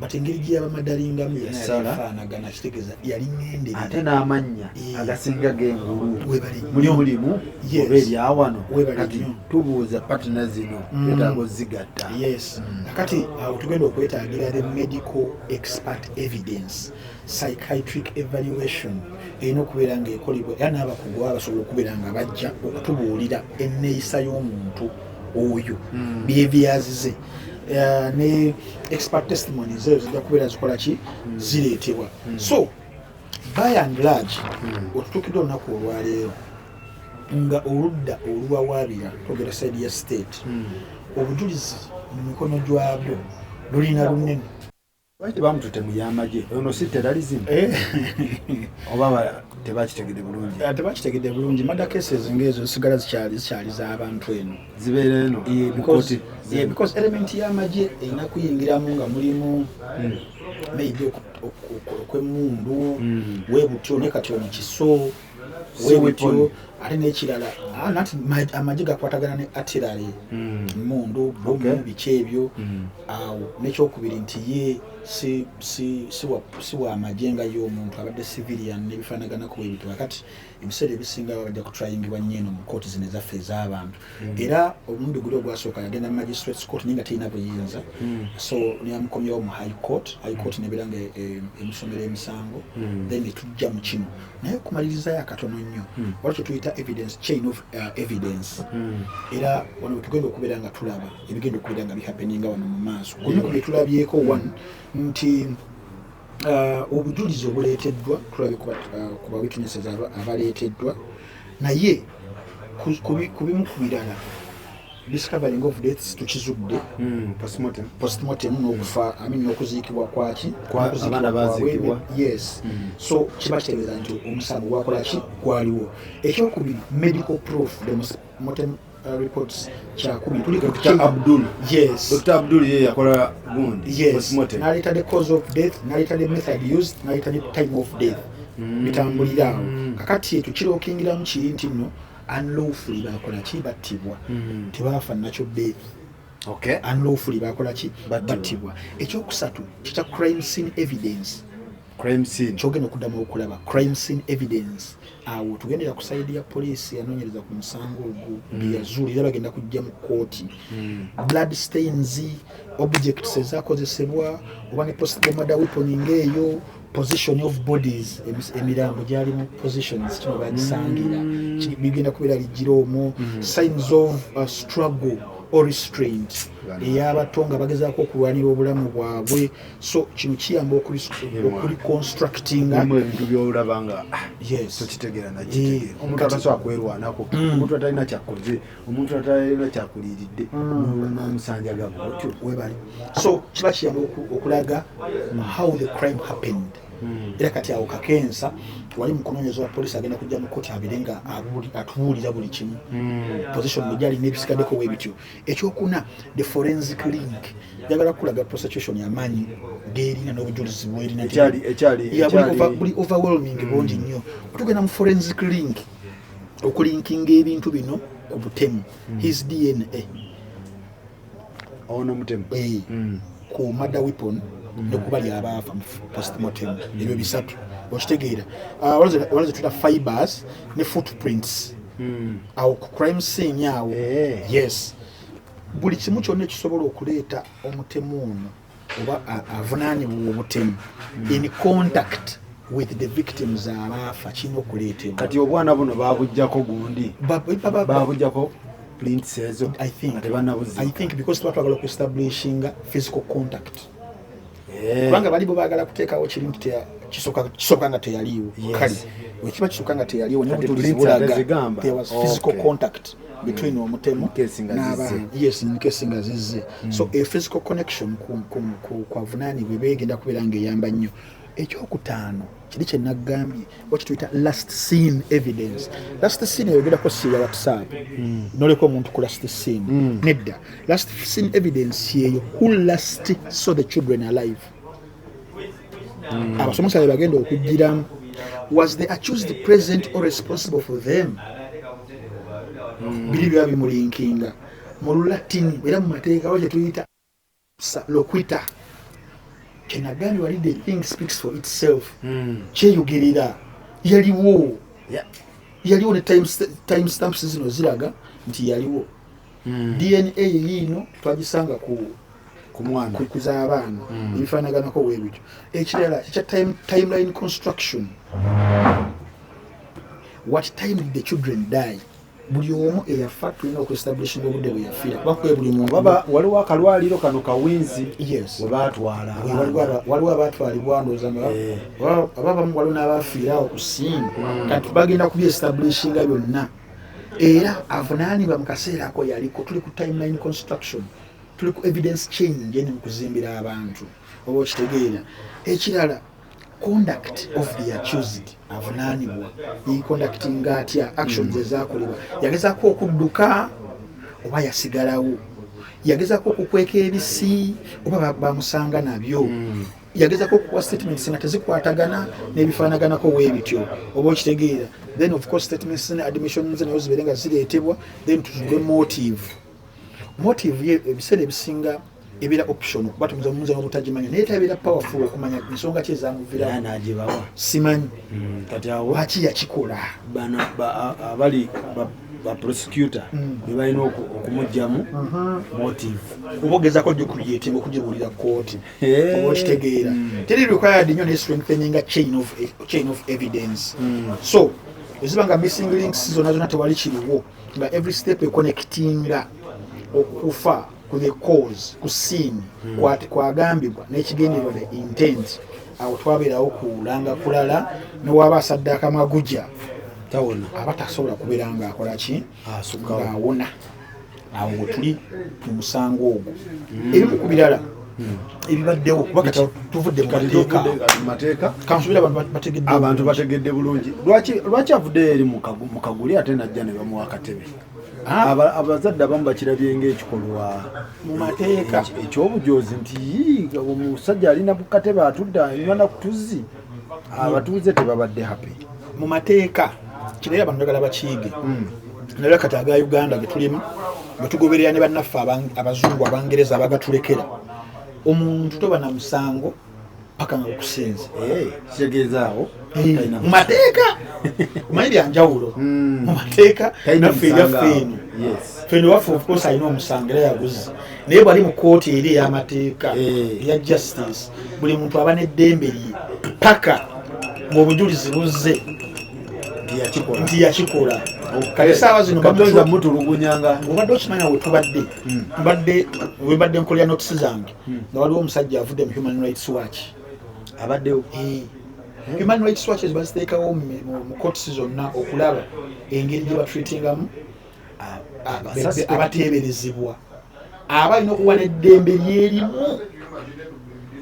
but engeri gyeyabamadalingamu yasafaanagana kitegeza yali ngendere ate n'amannya eh. agasinga gengulu muli mulimu oba ebyawano kati tubuuza patina zino mm. etaaga ozigatta mm. kati awo tugenda okwetagira the medical expert evidence psychiatric evaluation erina okubeera ngaekolebwa era n'abakugu baba basobola okubeera nga bajja okutubuulira enneeyisa y'omuntu oyo mm. byebyazize eh, ne expert testimony zeyo zijja kubeera zikola ki hmm. zireetebwa hmm. so by and large hmm. otutukidde olunaku olwaleero nga oludda oluwawaabira togera side ya state obujulizi mu mikono gyabyo lulina lunene lwaki bamutute mu yamagye ono si terrorism eh. oba tebakitegede bulungi ah, tebakitegede bulungi mada cases ngaezo zisigala zikyali zikyali z'abantu eno zibeera eno eh, because element yamagye erina kuyingiramu nga mulimu hmm. maybe okwemundu hmm. webutyo ne kati ono kiso ate nekirala ah, nati amagye gakwatagana ne atirale hmm. mundu bomu biki ebyo hmm. awo nekyokubiri nti ye si wa magye nga ye omuntu abadde civilian nebifanaganako ebintu kakati ebiseera ebisinga babadde kutrayingibwa nyo eno mu kooti zino ezaffe ez'abantu hmm. era omulundi guli ogwasooka yagenda mu magistrates court naye nga terina buyinza so neyamukomyawo mu high court high court nebeera nga e, e, emusomera emisango then netujja mu kino naye okumalirizayo akatono nnyo hmm. wali kyetuyita evidence chain of uh, evidence hmm. era wano wetugenda okubeera nga tulaba ebigenda okubeera nga bihapeninga wano mu maaso kumu ku byetulabyeko hmm. one nti uh, obujulizi obuleeteddwa tulabye ku uh, bawitnesses abaleeteddwa naye ku bimu ku birala discovering of deaths tukizudde hmm, postmortem nokufa hmm. amin nokuziikibwa kwaki yes hmm. so kiba kitegeeza nti omusango gwakolaki gwaliwo ekyokubiri medical proof demosmortem uh, reports kyakumi tuliabdul ye yakola gundinaleta the cause of death naleta the method used naleta the time of death bitambuliraawo kakati ekyo kirokingiramu kiri nti no unlawfully bakola ki battibwa mm. tebaafa nakyo death okay. unlawfully bakola ki battibwa ekyokusatu kikya crime scene evidence crime scene kyogenda okuddamu okulaba crime scene evidence awo tugendera ku saidi ya poliisi yanoonyereza ku musango ogwo mm. byeyazuula era bagenda kujja mu kkooti mm. blood stains objects ezakozesebwa oba ne postemada weapon ngaeyo position of bodies emirambo gyali mu positions kino bagisangira mm. bigenda kubeera ligira omwo mm. signs of uh, struggle or restraint eyabato nga bagezaako okulwanira obulamu bwabwe so kino kiyamba okuliconstructinga ebintu byolaba nga ah, yes tokitegera nakitegeera eh, omuntu atasobola kwerwanako mm. omuntu atalina kyakoze omuntu atalina kyakuliridde mm. nomusanja gabo otyo webali so kiba kiyamba okulaga mm. how the crime happened mm. era kati awo kakensa wali mukunonyeza wa polisi agenda kujja mukoti abire nga atubuulira buli kimu position mujali nebisigadeko webityo ekyokuna the forensic link yagala kulaga prosecution yamanyi gerina nobujulizi bwerina yabuli overwhelming bungi nnyo otugenda mu forensic link mm. okulinkinga ebintu bino ku butemu mm. his dna ono mutemu eh, mm. ku mada weapon mm. nekuba lyabaafa postmortem ebyo bisatu okitegeera ah, walaze tuta fibers ne footprints awo ku crime scene awo eh. yes buli kimu kyonna ekisobola okuleeta omutemu ono oba avunaanibwa obutemu hmm. in contact with the victims abaafa kirina okuleetebwa kati obwana buno babujjako gundi babujjako plints ezo i think tebanabuzi i think because tuba twagala okuestablishinga physical contact eh. kubanga balibo bagala kuteekawo kiri nti kisoka nga teyaliiwo kale wekiba kisoka nga teyaliiwo nbulaga there was physical contact between mm. omutemu n'abaenkesi nga zizze mm. so a physical connection kwavunaanibwa eba egenda kubeera nga eyamba nnyo ekyokutaano kiri kyenagambye wakituyita last scene evidence last scene eyogerako siya whatsapp mm. noleka omuntu ku last scene nedda last scene evidence yeyo who last saw the children alive mm. abasomesa bebagenda okugiramu was the accused president or responsible for them mm. biri biba bimulinkinga mu lulatini era mu mateeka wa kyetuyita loquita kyenagambye wali the thing speaks for itself mm. kyeyogerera yaliwo yaliwo ne time stamps zino ziraga nti yaliwo hmm. dna yeyiino twagisanga ku kukuza abaana hmm. ebifanaganako webityo ekirala kikya timeline construction what time did the children die buli omu eyafa tulina okuestablishinga obudde bweyafira waliwo akalwaliro kano kawinzi webatwala waliwo abatwalibwa ndoza eh. ababamu waliwo nabafiirawo kusinga hmm. kati bagenda kubyestablishinga byonna era avunaanibwa mu kaseera ako yaliko tuli ku timeline construction tuli ku evidence change eni mu kuzimbira abantu oba okitegeera ekirala conduct of the accused avunaanibwa yeconductinga atya actions ezakolebwa yagezako okudduka oba yasigalawo yagezako okukweka ebisi oba bamusanga nabyo hmm. yagezako okuwa statements nga tezikwatagana n'ebifaanaganako weebityo oba okitegeera then of course statements ne admissions nayo zibeere nga zireetebwa then tuzule motive motive ye ebiseera ebisinga ebeera optional kuba tumuza mumuza n'obutagimanya naye tabeera powerful okumanya nsonga ki ezamuvirawo nagibawa simanyi hmm, kati awo lwaki yakikola bano abali ba prosecutor hmm. be balina okumugyamu uh-huh. motive kuba ogezako gyokuyetima okugibulira kooti oba okitegeera hmm. teri required nyo ne strengthening a chain of, chain of evidence hmm. so eziba nga missing links zona zona tewali kiriwo nga every step ekonectinga okufa ku the cause ku scene hmm. kwagambibwa nekigenderwa the intent awo twabeerawo kulanga kulala newaba asadde akamaguja aba tasobola kubeera nga akolaki awona awo wetuli mu musango ogwo hmm. ebimu ku birala hmm. ebibaddewo kuba kati tuvudde mu mateeka kansubira abantu bategedde bulungi lwaki avudde eri mu kaguli ate najja ne bamuwa akatebe Ah. abazadde abamu bakirabye ngaekikolwa mumateeka ekyobujoozi nti omusajja alina bukatebe atudde anywa nakutuzzi abatuuze tebabadde happy mu mateeka kirayo abantu bagala bakiige hmm. naye kati aga uganda getulimu bwetugoberera ne bannaffe abazungu abangereza abagatulekera omuntu toba na musango paka nga okusinza eh, kitegeezaawo eh, mu mateeka omanyi byanjawulo hmm. mu mateeka naffe eyaffe eno ffe newaffe ofcourse alina omusango era yaguzi naye bwali mu kooti eri ey'amateeka eh. eya justice buli muntu aba n'eddembe lye paka ng'obujulizi buzze nti yakikola kale saawa zinobamutulugunyanga obadde okimanya wetubadde hmm. mbadde webadde nkolera notisi zange hmm. nga waliwo omusajja avudde mu human rights watch abaddewo eh. human rights watches baziteekawo mu courts zonna okulaba engeri gye batreatingamu abateeberezebwa aba alina okuba n'eddembe lyerimu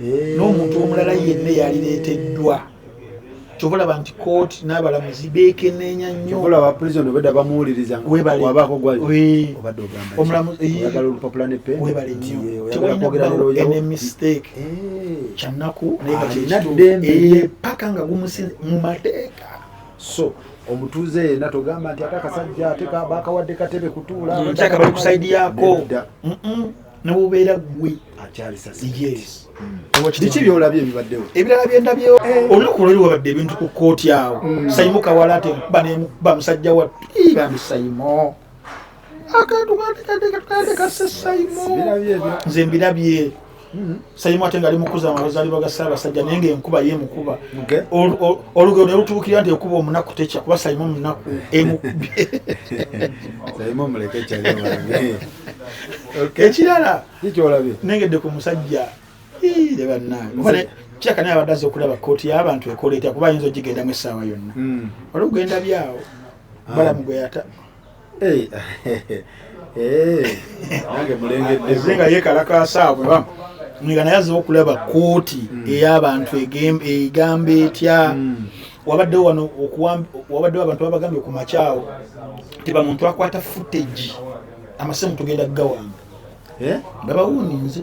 eh. n'omuntu omulala yenna eyalireeteddwa kyova olaba nti kooti n'abalamuzi beekeneenya nnyowebalenyowebalenyomistake eh. kyannaku naye nga kyekituuepaka eh. nga gumusi mu mateeka so omutuuze yena togamba nti ate akasajja ate bakawadde katebe kutuula mm, nkyaka bali kusaidi yako nebubeera gwe biki byolabye ebibaddewo ebirala byendabyewo eh. olunaku lwali wabadde ebintu ku kooti awo mm. saimo kawala ate nkuba nemukuba musajja wattu ibambi saimo akantu nze mbirabye hmm. sayimu ate ngaali mukuza amazalibwa ga ssaabasajja naye ngaenkuba ye mukuba olugero ne lutuukirira nti ekuba omunaku tekya kuba sayimu omunaku emukubye ekirala nengedde ku musajja ire bannange kiraka naye abadde aza okulaba kooti y'abantu ekola etya kuba ayinza ogigendamu essaawa yonna hmm. olugenda byawo balamu ah. gwe yata Hey, hey, nange mulengedde Azze nga yeekalakaasa awo bweba nga naye azze okulaba kkooti Mm. ey'abantu egem- egamba etya Mm. wabaddewo wano okuwam- wabaddewo abantu babagambye ku makyawo nti bamuntu akwata footage amasimu tugenda kugawamba Eh? babawuuninze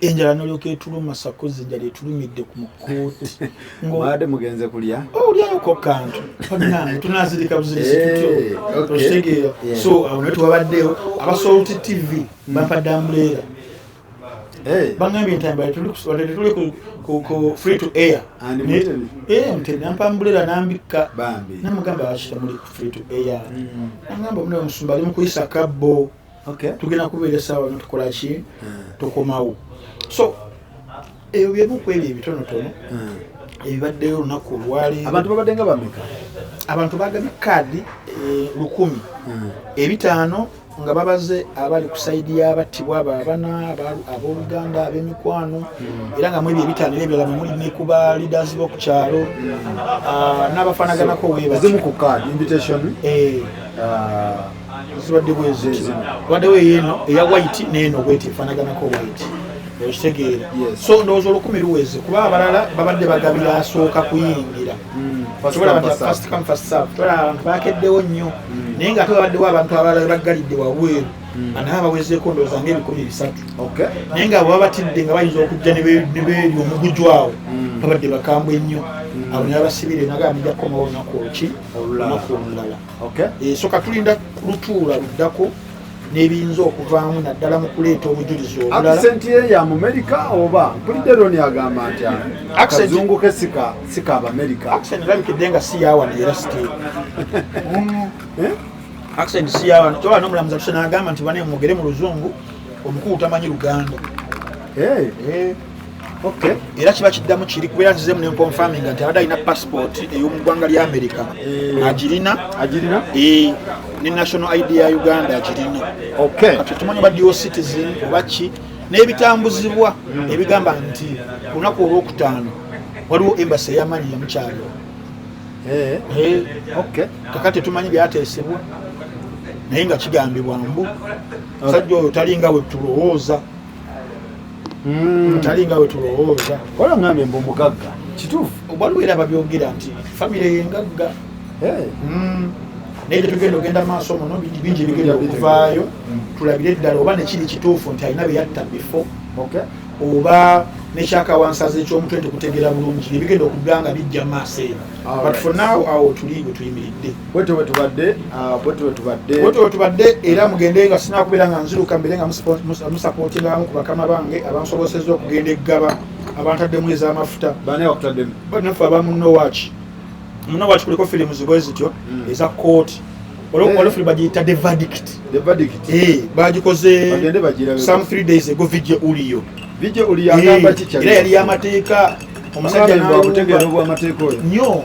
enjala nolyoka etuluma sakozi enjala etulumidde ku mukooti ngade mugenze kulya oh, olyayoko kantu banange tunazirika buzirisitutyokitegeera eh, so awo naye tubabaddeyo abasolti tv hmm. bampadde ambuleera eh. bangambye entambala tetuli ku free to air eh, mutemi nampa ambuleera nambikka namugamba bakita muli ku free to air hmm. nangamba muna omusumba ali mukuyisa kabbo okay. tugenda kubeera esaawa no tukola ki hmm. tukomawo so ebyo byebuku ebyo ebitonotono hmm. ebibaddeyo olunaku olwali abantu babadde nga bameka abantu bagabye kaadi eh, lukumi hmm. ebitaano nga babaze abali ku saidi y'abattibwa abo abana ab'oluganda ab'emikwano era nga mwebyo ebitaano era ebirala muli ne ku ba leaders b'oku kyalo ah, n'abafaanaganako webazimu ku kaadi invitation eh. ah. zibadde bwezezimu tubaddewo eyeeno eya white neeno bweti efanaganako white okitegeera so ndowooza olukumi luweze kuba abalala babadde bagabira asooka kuyingira hmm. abantu bakeddewo nnyo hmm. naye nga ate babaddewo abantu abalala baggalidde wabweru hmm. anaa bawezeeko ndowooza nga ebikumi bisatu naye nga baba batidde nga bayinza okujja nebeeri omugujw awo babadde bakambwe nnyo abo nabasibire nagamba nija kukomawo olunaku oluki olunaku olulala okay. E, so katulinda lutuula luddako nebiyinza okuvaamu naddala mu kuleeta obujulizi obulalaakisenti ye ya mumerika oba mpulidde roni agamba nti akazungu ke sika sika abamerika akisenti labikidde nga si yawano era site eh? akisenti si yawano kyoba nomulamuzi atusena agamba nti bane mugere mu luzungu omukulu tamanyi luganda hey. Eh. Hey. Eh. Okay. era kiba kiddamu kiri kubeera nzizemu nenkonfaminga nti abadde alina passport ey'omugwanga lya amerika eh. agirina agirina eh, ne national id ya uganda agirina kati tumanyi oba dio citizen oba ki n'ebitambuzibwa hmm. ebigamba nti olunaku olwokutaano waliwo embasi eyamanyi yamukyalo eh. kaka tetumanyi byateesebwa naye nga kigambibwa mbu sajja oyo talinga wetulowooza hmm. tali nga wetulowooza wala ngambye mbu mugagga kituufu waliwo era babyogera nti famire yengagga hmm. naye tetugenda ogenda maaso muno bingi bigenda okuvaayo hmm. tulabire eddala oba nekiri kituufu nti alina beyatta bifo oba nekyakawansaza ekyomutwe nti kutegeera bulungi nebigenda okugga nga bijja maaso eno but for now awo tuli wetuyimiridde bwetyo bwetubadde ah, bwetyo bwetubadde bwetyo bwetubadde era mugende nga sinakubeera nga nziruka mbere nga musapotingamu ku bakama bange abansoboseza okugenda eggaba abantaddemu ezamafuta banewakutaddemu banaffe abamunowaki munowaki kuliko firimu zibwe zityo hmm. eza kooti olwofuli eh. bagiyita the verdict the verdict eh bagikoze some 3 days ago video uliyo video uliyo agamba eh, kikya era yali amateeka omusajja n'abutegeera obwamateeka oyo nyo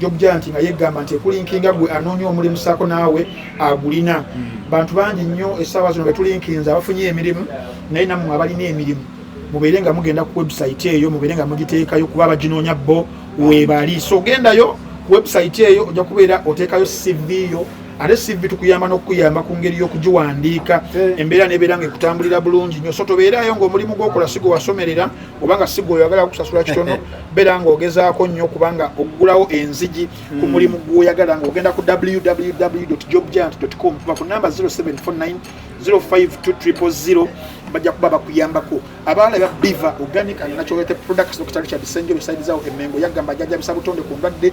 jobjanti nga yegamba nti ekulinkinga gwe anoonya omulimu saako naawe agulina hmm. bantu bangi nnyo essaawa zino betulinkinza abafunye emirimu naye nammwe abalina emirimu mubeere nga mugenda ku website eyo mubeere nga mugiteekayo kuba abaginoonya bo webali so ogendayo ku website eyo ojja kubeera oteekayo cv yo ate cv tukuyamba n'okukuyamba ku ngeri y'okugiwandiika eh. embeera nebeera nga ekutambulira bulungi nyo so tobeerayo ngaomulimu gwokola si gwe wasomerera obanga sigwe oyagala kusasula kitono beera nga ogezaako nnyo kubanga okugulawo enzigi ku hmm. mulimu gwoyagala nga ogenda ku www jobgiant com kuba ku namba 0749 0520 bajja kuba bakuyambako abaala ba biva organic and natural products dr richard senjo besayidizawo emengo yagamba ajajabisa butonde ku ndwadde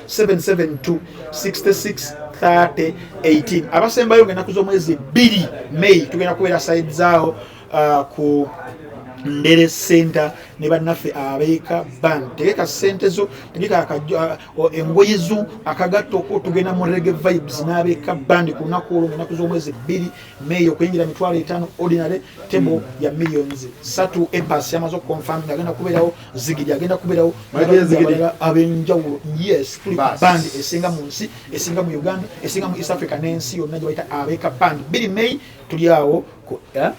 772663018 abasembayo nga enaku z'omwezi bbiri may tugenda kubeera sayidizaawo uh, ku ndere center ne bannaffe abeeka bank tegeka sente zo tegeka uh, engoye zo akagatto ko tugenda mu rege vibes n'abeeka band ku lunaku olwo mu naku z'omwezi bbiri May okuyingira mitwalo etaano ordinary table mm. ya millions satu ebas yamaze okuconfirm agenda kubeerawo zigidi agenda kubeerawo abenjawulo yes tuli band esinga mu nsi esinga mu uganda esinga mu east africa n'ensi yonna gye bayita abeeka band biri may tuli awo ku eh?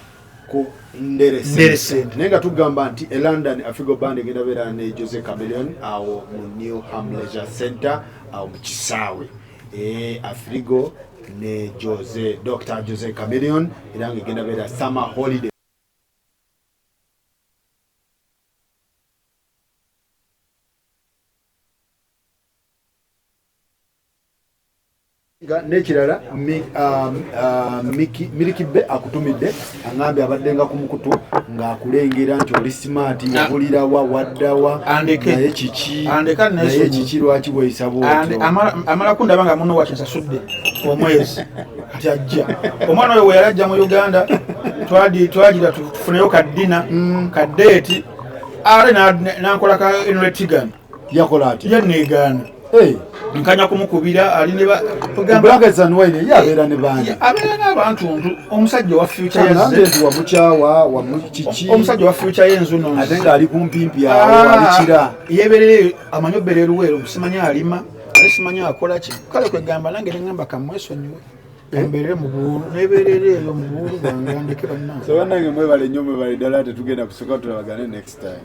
nderesente naye nga tugamba nti e london afigo band egenda beera ne jose cameleon awo mu new hamleger center awo mu kisaawe e Afrigo ne Jose Dr. Jose Chameleon era nga egenda beera summer holiday nekirala um, uh, miliki be akutumidde aŋambye abaddenga ku mukutu ng'akulengera nti oli simaati yabulirawa waddawa naye kiki naye kiki lwaki bweyisa bwotyo amalako ndaba nga muno wakinsasudde omwezi kati ajja omwana oyo weyali ajja mu uganda twagira tufuneyo kaddina mm. kadeeti are nankolaka enretigan yakola atya yanegaana eh. nkanya kumukubira ali ne yabeera ne baani abeera n'abantu ntu omusajja owa fyuca yazze wamukyawa wamukiki omusajja owa fyuca yenzuno ate ng'ali kumpimpi awo ah, alikira yeeberereyo amanyi obbeera eruweero simanyi alima ate simanyi akola ki kale kwegamba nange neŋamba kamwesonyiwe embeere mubulu nebeerera eyo mubulu bwange andeke bannange mwebale nnyo mwebale ddala tetugenda kusooka tulabagane next time